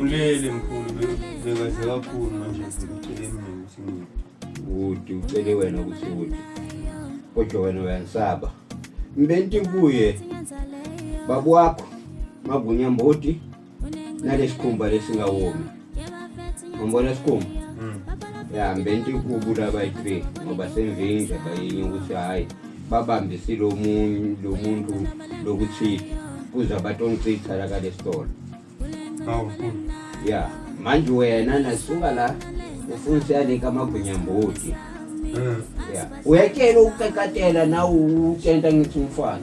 Ulele mkhulu bekaze kakhulu manje ngicele mina ukuthi ngithi. Uthi ucele wena ukuthi uthi. Kodwa wena uyansaba. Mbenti kuye babu wakho magunya mboti nale sikhumba lesingawomi umbona sikhumba hmm. ya mbenti kubu labayi-three ngoba senvinje bayinye ukuthi hhayi babambe silo muntu lokuthile kuze abantu ongichitha la kale sitolo ya manje wena nasuka la ufuna siyaleka amagwinyambodi hmm. ya uyakela ukuqekatela nawe utshenta ngithi umfana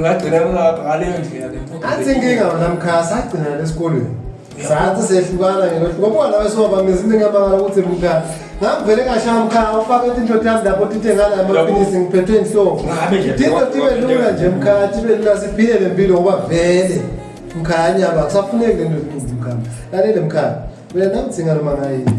ngagcina ngaleyo ndlela le mfundo athi inkinga wona mkhaya sagcina lesikolweni sathi sehlukana ngelohluka buka nawe siwabambe izinto engiyabangala ukuthi mkhaya ngangivele ngashaya mkhaya ufake intothi yami lapho tithe ngala amapilisi ngiphethwe inhloko tito tibe lula nje mkhaya tibe lula siphile le mpilo ngoba vele mkhaya nyaba akusafuneki le nto eziqumbi mkhaya lalele mkhaya mina namdzinga noma ngayini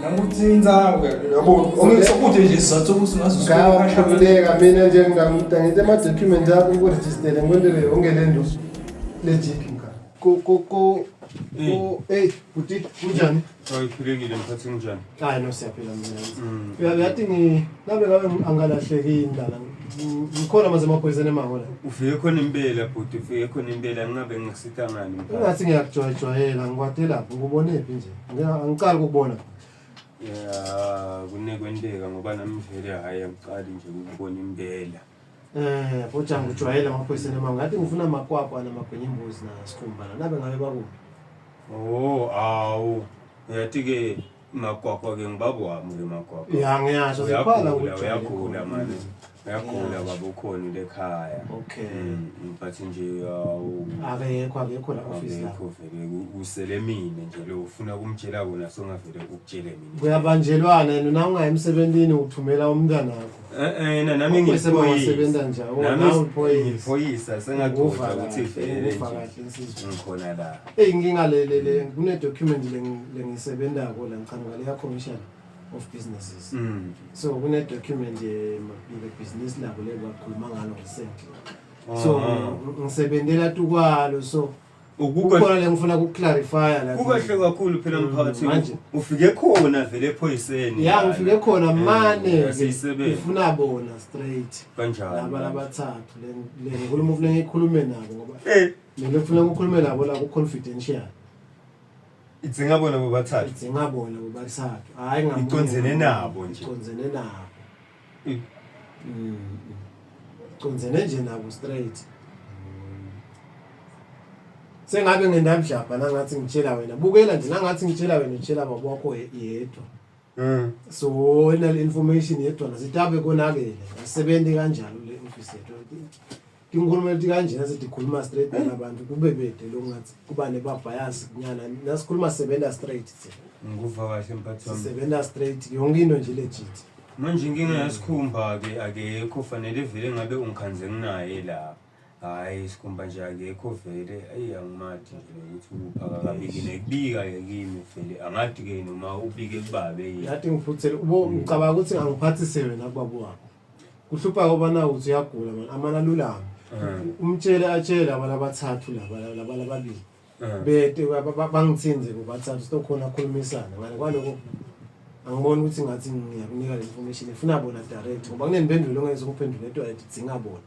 Nanguthinta yabo okuthi nje sizathu ukuthi ngazosibeka mina nje ngingamuda ngite ama document akho ku register ngondele yonke lento legit mka ko ko ko eh buti kunjani hayi philekile mkhathi kunjani hayi no siyaphila mina mm. uyathi ngi nabe ngabe angalahleki indala ngikhona maze amaphoyiseni emahola ufike khona impela bhuti ufike khona impela ngingabe ngisitangani ungathi ngiyakujwayejwayela ngikwade lapho ngubonephi nje Yeah, angicali ukubona. Yeah, kunekwenteka ngoba nami vele hayi angiqali nje ukubona impela. Eh, futhi angijwayele amaphoyisa noma ngathi ngifuna amakwakwa namagwinya imbuzi na sikhumbana. Nabe ngabe baku. Oh, awu. Uyathi ke makwakwa ke ngibabo wami ke makwakwa. Yeah, ngiyasho zikhona Uyagula, uyagula manje. Uyagula baba ukhona into ekhaya. Okay. Mm, but nje awu Akekho akekho la office la. akekho vele ku- kusele mina nje lo ufuna kumtshela wona songavele ukutshele mina. Kuyabanjelwana yena na ungayi emsebenzini uthumela umntana wakho. Eh eh yena nami Ubese bawasebenza ngiyiphoyisa. njani? Wona Nami uphoyisa. ngiyiphoyisa sengagoda Ukufa ukuthi kahle, vele ukufa nje. kahle insizwa. Ngikhona la. Hey ngingalelele kune document lengi- lengisebenzako la ngichanuka leya commission. of businesses mm. so kune document ye Mabhile business labo lelo wakhuluma ngalo recently ah. so ngisebenzela tukwalo so ukukhona lengifuna kuclarify la kukahle kakhulu phela mm, mphakathi ufike khona vele ephoyiseni ya ngifike khona eh, mane ngifuna bona straight kanjalo laba labathathu le nkulumo ufuna ngikhulume nabo ngoba eh mina ngifuna ukukhuluma nabo la ku confidential idzinga bona bobathathu idzinga bona bobathathu hayi ngamunye icondzene nabo nje icondzene nabo mm, mm. icondzene nje nabo straight sengabe ngendabudlabha nangathi ngitshela wena bukela nje nangathi ngitshela wena utshela baba wakho yedwa mm. so inal information yedwa nasitabe konakele asebenzi kanjalo le office yethu tinkhulumo letikanjena setikhuluma straight eh. nabantu kube bede lokungathi kuba nebabhayazi kunyana nasikhuluma sisebenza straight ngikuva kahle mphathi wami sisebenza straight yonke into nje legit manje inkinga yasikhumba-ke akekho fanele vele ngabe ungikhanze nginaye la hhayi sikhumba nje akekho vele eyi angimathi nje ukuthi ukupha kakabikile kubika-ke kimi vele angadi-ke noma ubike kubabe yini ngathi ngiphuthele ubo ngicabanga ukuthi angiphathise wena kubaba wakho kuhlupha kobana uthi uyagula mani amane alulame umtshele atshele abantu abathathu laba laba lababili bete ba- ba- ba- bangithinze bobathathu sitokhona akhulumisana ngale kwaloko angiboni ukuthi ngathi ngiyakunika le information efuna bona direct ngoba kunempendulo ongeke ngizokuphendula into edinga bona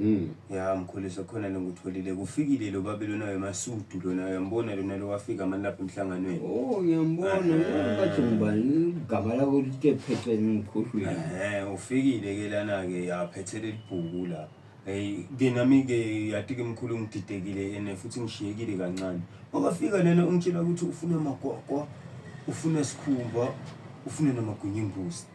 Mm. Ya mkhulisa khona lengikutholile kufikile lo babe lona wemasudu lona uyambona lona lo wafika mani lapha emhlanganweni. Oh ngiyambona Eh. bathi ngubani igama lakho lithe phethwe ngikhohlwile. Ehhe ufikile ke lana ke yaphethe lelibhuku la. Hey ke nami ke yati ke mkhulu ngididekile ene futhi ngishiyekile kancane. Wakafika lena ungitshela ukuthi ufuna amagwagwa, ufuna sikhumba, ufuna namagwinya embuzi.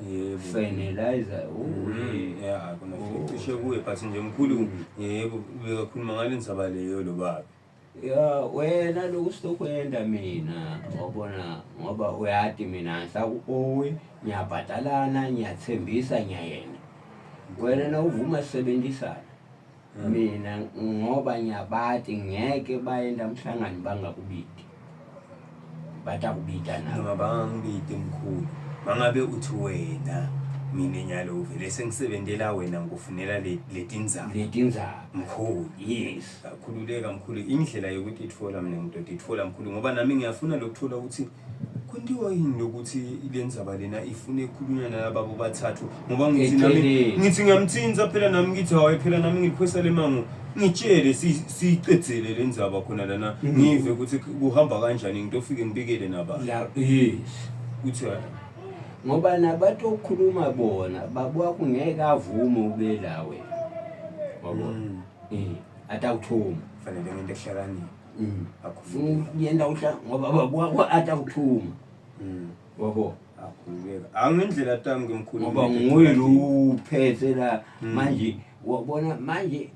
Yebo. Finalizer. Mm, yeah, akona Oh. cishe kuye but nje mkhulu Mm. yebo bekakhuluma ngale ndaba leyo lo baba. Ya wena lokhu sitokwenda mina wabona ngoba uyati mina ngihla ku-owe ngiyabhadalana ngiyathembisa ngiyayena wena nawuvuma sisebenzisana hmm. mina ngoba ngiyabati ngeke bayenda emhlangano bangakubidi bathi akubida nabo bangangibidi mkhulu mangabe uthi wena mina nyalo uvele sengisebenzela wena ngikufunela letinzaba letinzaba mkhulu yes akhululeka mkhulu indlela yokuthi ithola mina ngidoda ithola mkhulu ngoba nami ngiyafuna lokuthola ukuthi Kuthiwa yini lokuthi le ndzaba lena ifune ikhulunywa nalaba bobathathu ngoba ngithi nami Eceleni. ngithi ngiyamthinta phela nami ngithi hawe phela nami ngiliphwesa le mango ngitshele si- siyiqedzele le ndzaba khona lana ngive ukuthi kuhamba kanjani ngitofike ngibikele naba La eh kuthi hayi ngoba nabatokhuluma bona babuka kungeke avume ubelawe. Wabo. Mm. Eh atawuthuma. fanele ngento ehlakaniphe Mm. Akufuni kuyenda uhla ngoba baba kwa ata kuthuma. Mm. Wabo. Akhuleka. Angendlela tami ngimkhulu. Ngoba nguye lo uphethe la mm. manje wabona manje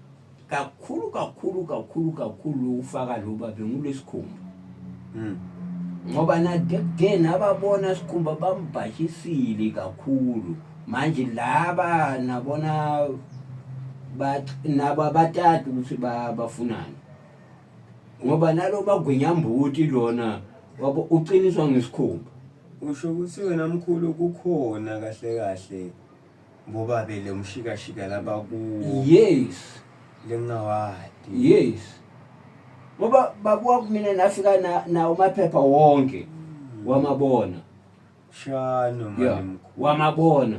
kakhulu kakhulu kakhulu kakhulu ufaka lo babe ngulesikhumba. Mm. ngoba nadekde nababona sikhumba bambhashisile kakhulu manje laba nabona nabo abatati ukuthi bafunani ngoba nalo bagwinyambuti lona wabo uqiniswa ngesikhumba usho ukuthi wena mkhulu kukhona kahle kahle ngoba bele umshikashika laba kuwo yes lengawadi yes ngoba babuwa kumina nafika na, na umaphepha wonke hmm. wamabona shano mkhulu wamabona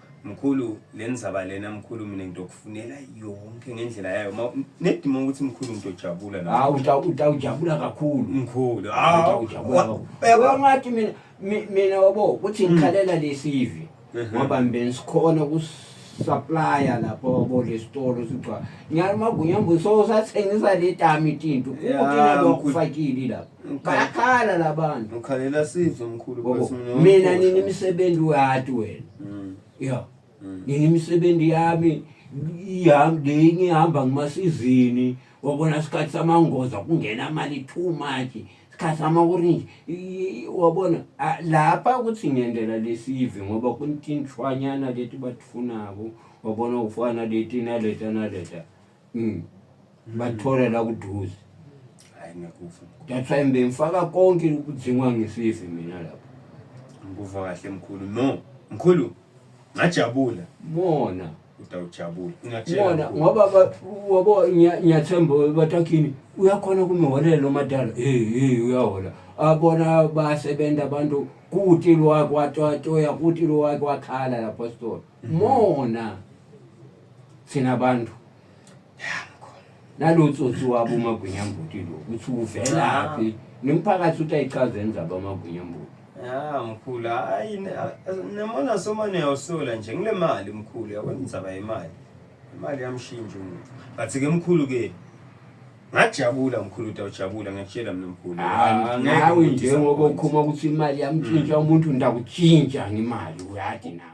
Mkhulu lenzaba lena mkhulu mina ngidokufunela yonke ngendlela yayo ma nedima ukuthi mkhulu ngidojabula la hawu uta- utawujabula kakhulu mkhulu hawu utawujabula wa- kakhulu yabo- Yabo ngathi mina mi- mina wabo ukuthi ngikhalela lesivi Mhm. ngoba mbe sikhona kusupplya lapho wabo lesitolo sigcwa nyalo magunyambo so sathengisa letami tinto Yeah, ukuthi nalo mkhulu. kufakile lapho bayakhala labantu ukhalela sizo mkhulu bose mina mina nini imisebenzi uyati wena mm. yeah mm. nini imisebenzi yami ihamba lenye ihamba ngimasizini wabona isikhathi samangoza kungena imali too much isikhathi samaorange wabona lapha ukuthi ngendlela lesive ngoba kuntinshwanyana leti batifunako wabona ufana leti naleta naleta Mm. Bathola la kuduze. Hayi ngekufa. That's why ngimfaka konke ukudzingwa ngisize mina lapho. Ngikuva kahle mkhulu. No, mkhulu ngajabula. Mona. Utawujabula. Mona ngoba wabo ngiyathemba batakhini uyakhona kumiholela omadala. Eh eh uyahola. Abona basebenza abantu kutilwa kwatwa toya kutilwa kwakhala lapho store. mona thina bantu nalotsotsi wabo umagwinyambuti lo ukuthi uvelaphi nomphakathi uthi ayichazeni zabo amagwinyambuti ya mkhulu hayi namona soma niyawosola nje ngile mali mkhulu yabona indzaba yemali imali yamshintsha umuntu but-ke mkhulu-ke ngajabula mkhulu utawujabula ngiyakutshela mina mkhulu ah, nawe njengoba ukhuma ukuthi imali yamtshintsha umuntu ndakutshintsha ngemali uyati nawe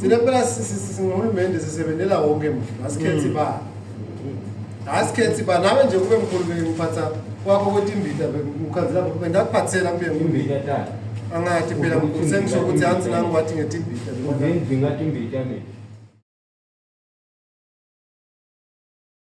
thina phela singahulumende sisebenzela wonke mfu asikhethi mm. ba asikhethi ba nawe nje kube mkhulu ngiphatha kwakho ukuthi imbida ukhanzela bendakuphathela kube imbida angathi phela mkhulu sengisho ukuthi hansi nami wathi ngethi imbida ngingathi imbida mina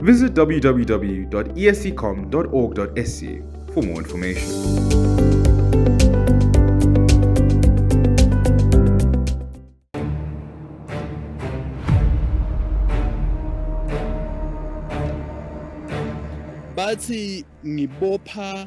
Visit www.esccom.org.sc for more information. bathi ngibopha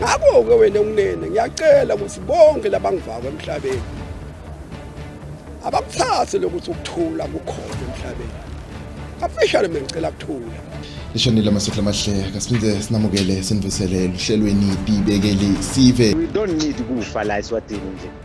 ngakho-ke wena unene ngiyacela ukuthi bonke labangivako emhlabeni abakuthathe lokuthi ukuthula kukhona emhlabeni kafishane mina ngicela kuthula lishonile amasotla amahle kasiphinde sinamukele sinivusele luhlelweni bibekeli sive we don't need kufa la eswatini nje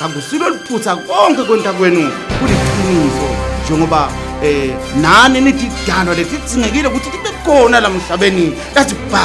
Angusilo liphutha konke konta kwenu kuliqiniso njengoba eh nani nithi dano lesitsingekile ukuthi libe khona la mhlabeni lathi ba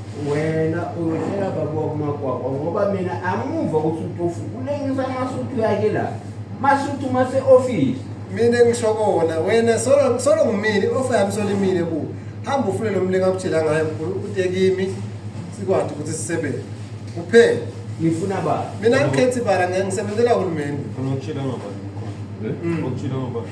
wena uyotshela baba wakumakwakwa ngoba mina amuva ukuthi utofu kulengisa amasuthu yakhe la masuthu mase-ofisi mina ngisho kona wena solo solo ngimile ofa yami solimile ku hamba ufune lo mlinga akutshela ngayo mkhulu ude kimi sikwazi ukuthi sisebenze kuphela ngifuna baba mina angikhethi bara ngeke ngisebenzela uhulumeni Ngokutshela ngobani? Eh? Ngokutshela ngobani?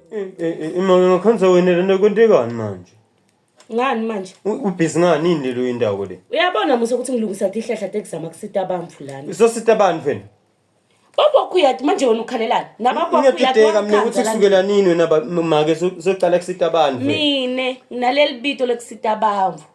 Imali ngakhanisa wena lento kwentekani manje? Ngani manje? Ubhizi ngani yini lelo indawo le? Uyabona musa ukuthi ngilungisa tihlahla tekuzama kusita abantu lana. Usosita abantu wena? Babokho uyathi manje wena ukhalelani? Nababokho uyathi. Ngiyadideka mina ukuthi kusukela nini wena make soqala kusita abantu. Mina nginaleli bito lekusita abantu.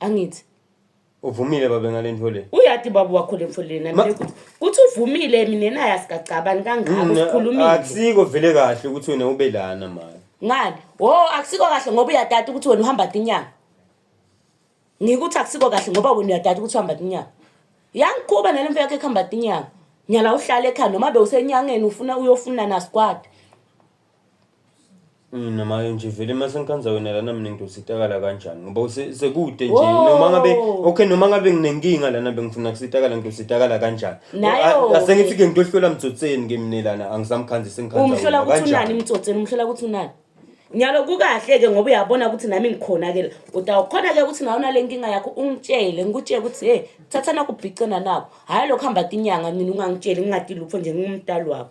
angithi uvumile babe ngale nto le uyati baba wakho le mfoleni Ma- nami kuthi kuthi uvumile mina naye asigagcabani kangako Mna, sikhulumile akusiko vele kahle ukuthi wena ube lana mani ngani wo akusiko kahle ngoba uyadata ukuthi wena uhamba tinyanga ngikuthi akusiko kahle ngoba wena uyadata ukuthi uhamba tinyanga yangikhuba nale mfo yakho ekuhamba tinyanga nyala uhlale ekhaya noma bewusenyangeni ufuna uyofuna nasigwadi Mina manje nje vele uma sengikhanza wena lana mina ngidositakala kanjani ngoba use- sekude nje Wow. noma ngabe okay noma ngabe nginenkinga lana bengifuna kusitakala ngidositakala kanjani Nayo A- ke. asengithi ke ngiyohlola mtsotseni ke mina lana angisamkhanzi sengikhanza umhlola wena ukuthi unani kanjani imtsotseni umhlola ukuthi unani nyalo kukahle-ke ngoba uyabona ukuthi nami ngikhona-ke la utawukhona-ke ukuthi nawe unale nkinga yakho ungitshele ngikutshele ukuthi he thatha nakubhicena nako hhayi lokhu hamba tinyanga mina ungangitsheli ngingatilupho nje ngingumdali wakho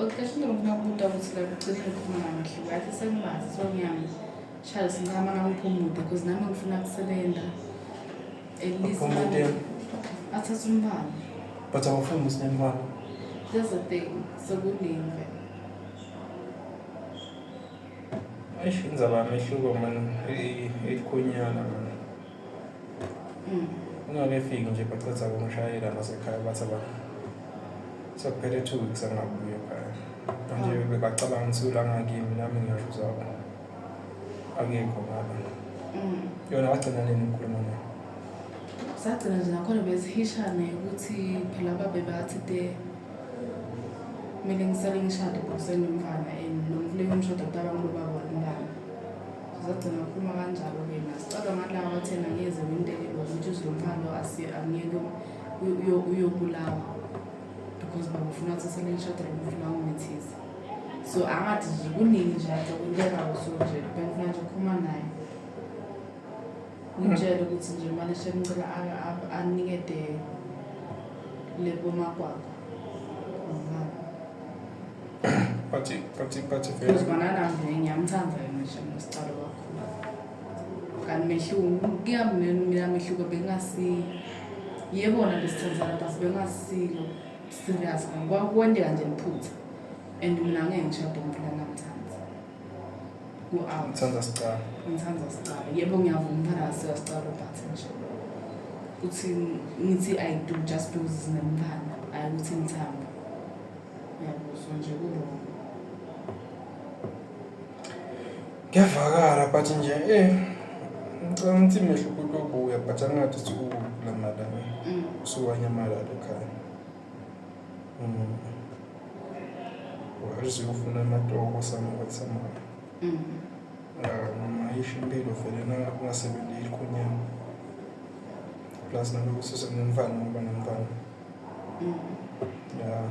Oqeqesha umuntu nakubuta ukuthi la kucishe kukhuluma kahle ngathi sengimazi so ngiyami shaya sinqama ngakuphi umude because nami ngifuna kusebenza at least Uphi umude? nami- athathe umbala but awufuni musinembala that's the thing sekuningi vele eish inzaba yamehluko mani elikhunyana mani ungakefiki nje bacetha kungishayela nasekhaya bathi abantu sekuphele two weeks angabuye ekhaya manje ah. bebacabanga ukuthi ulangakimi nami ngiyasho uzabo akekho ngaba mm. yona wagcina nini ngikhuluma naye sagcina nje nakhona bezihishane ukuthi phela babe bathi de kumele ngisale ngishade bhuseni umfana and nomfuleni umshado kutaba ngilobaba womntana Sizogcina ukuphuma kanjalo-ke na? Sicabanga ngathi laba bathenga ngeze wintelelo ukuthi uZilomphalo angeke uyobulawa because babufuna ukuthi sele ngishadele umuntu la ungethize so angathi nje kuningi nje athi okwentekayo so nje bengifuna nje ukuphuma naye ngitshele ukuthi nje manje sengicela anikede le bomakwakho Pati, pati, pati vele. Uzibona nami ngiyamthanda yena nje ngesicalo kakhulu. Kanti mehluko kuyamnene mina mehluko bengasi yebo na besithandana but bengasilo serious ngoba kwendeka nje liphutha and mina ngeke ngishade umuntu langamthanda. Ku-out. Ngithanda sicalo. Ngithanda sicalo. Yebo ngiyavuma umntana sika sicalo but nje ukuthi ngithi I do just because sinemntana ayi ukuthi ngithanda. Ngiyakuzwa nje ku-wrong. Ngiyavakala but nje eh ngicela ukuthi mehlo kutobuya but angathi sikulamala. Mm. Usuwanyamalala ekhaya. Mm. Wazi ufuna amatoko samuka samuka. Mm. Noma yisho impilo vele na ungasebenzi ikhunyana. Plus naloku sise ngumfana ngoba ngumfana. Mm. Yeah.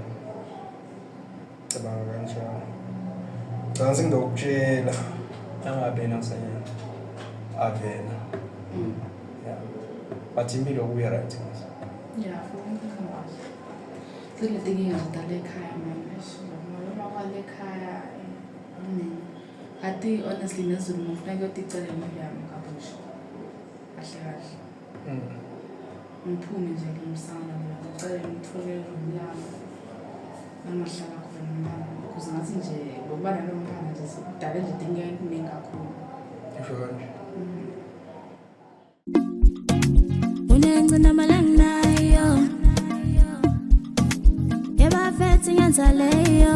Cabanga kanjalo. Ngicabanga ngizokutshela. Angabena kusanyana. Avena. Mm. Yeah. But impilo kuya right. Yeah, for me ngikwazi. Zile tinkinga zidala ekhaya manje. Noma kwale ekhaya nini. Ati honestly nezulu ngifuna kuyoticelela imali yami kabusha. Kahle kahle. ngiphume nje kumsana mina ngicela ngithole umlalo nangahlala khona umntana because ngathi nje ngokuba nalo mntana nje sikudale nje dinga eningi kakhulu ngisho kanje unencinamalaninayo yebafethi ngenzaleyo